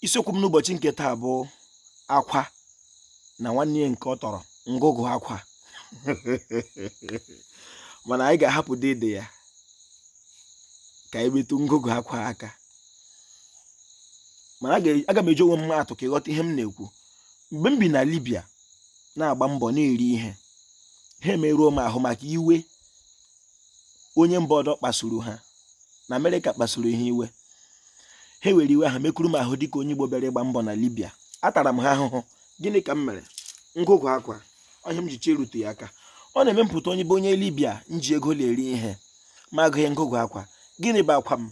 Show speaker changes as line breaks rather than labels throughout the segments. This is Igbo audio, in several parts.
isiokwu m n'ụbọchị nke taa bụ akwa na nwanne ya nke ọ tọrọ ngụgụ akwa mana anyị ga-ahapụ dede ya ka anyị metụ ngụgụ akwa aka mana aga m eji onwe m maa atụ ka ị ghọta ihe m na-ekwu mgbe m bi na Libya na-agba mbọ na-eri ihe ha emeruo m ahụ maka iwe onye mba ọdọ kpasuru ha na amerịka kpasuru ha iwe ha were iwe ha mekuru m ahụ dịka onye igbo bịara ịgba mbọ na libya atara m ha ahụhụ gịnị ka m mere ngụgụ akwa ọ ihe m ji chọ irutu ya aka ọ na-eme m pụta onye bụ onye libya m ji ego na-eri ihe ma agụghị ngụgụ akwa gịnị bụ akwa m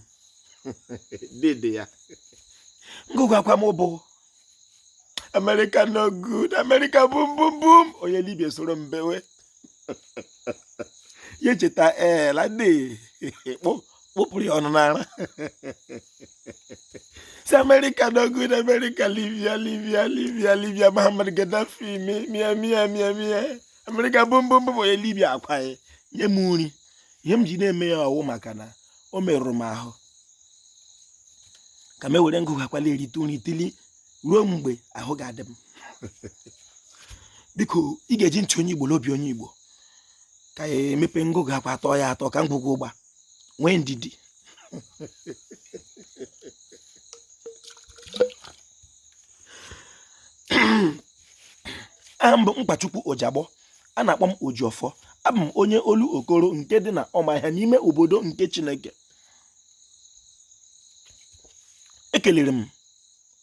dede ya ngụgụ akwa m bụ America no good America bum bum bum onye Libya soro m bewe ya echeta ee lade kpụpụrụ ya ọnụ n'ara si America no good America Libya Libya Libya Libya Muhammad Gaddafi mia mia mia mia America bum bum bum onye Libya akwanye m nri ihe m ji na-eme ya ọ wụ maka na o merụrụ m ahụ ka m ewere ngụgụ akwa la-erite uru tili ruo mgbe ahụ ga-adị m biko ị ga-eji ntị onye igbo na obi onye igbo ka m mepe ngụgụ akwa tọọ ya atọ ka ngwugwu ụgba nwee ndidi aha m bụ mkpachukwu ojagbọ a na-akpọ m ojiọfọ abụ m onye olokoro nke dị na ụmụahịa n'ime obodo nke chineke ekelere m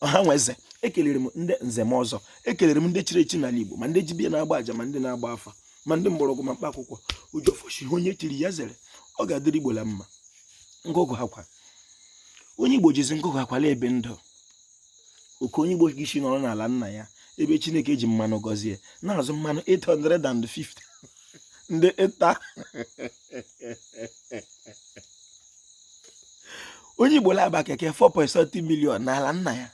ọha na eze ekelere m ndị nze na ọzọ ekelere m ndị chiri echi n'ala Igbo ma ndị dibịa na-agba aja ma ndị na-agba afa ma ndị mgbọrọgwụ na mkpa akwụkwọ ojiọfọ sị ihe onye chiri ya zere ọ ga-adịrị Igbo la mma ngụgụ akwa onye Igbo jizi ngụgụ akwa la-ebi ndụ oke onye Igbo ga-esi nọrọ n'ala nna ya ebe Chineke ji mmanụ gọzie na-azụ mmanụ 850 na lita onye igbo la-agba keke 4.7 million n'ala nna ya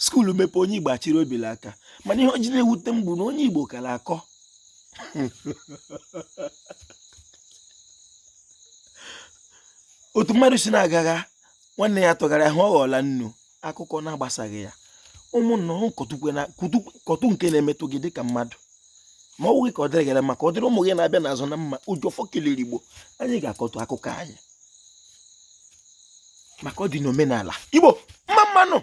skuulu mepe onye igbo achịrị obi la aka mana ihe o ji na-ewute m bụ na onye igbo ka la-akọ otu mmadụ si na-agagha nwanne ya tụgharịa ahụ ọ ghọọla nnu akụkọ na-agbasaghị ya ụmụnna kọtụ nke na-emetụ gị dịka mmadụ ma ọ bụghị ka ọ dịrị gị la mma ka ọ dịrị ụmụ gị na-abịa n'azụ na mma ojiọfọ kelere igbo anyị ga-akọtụ akụkọ anyị maka ọ dị n'omenala igbo mma mma nụ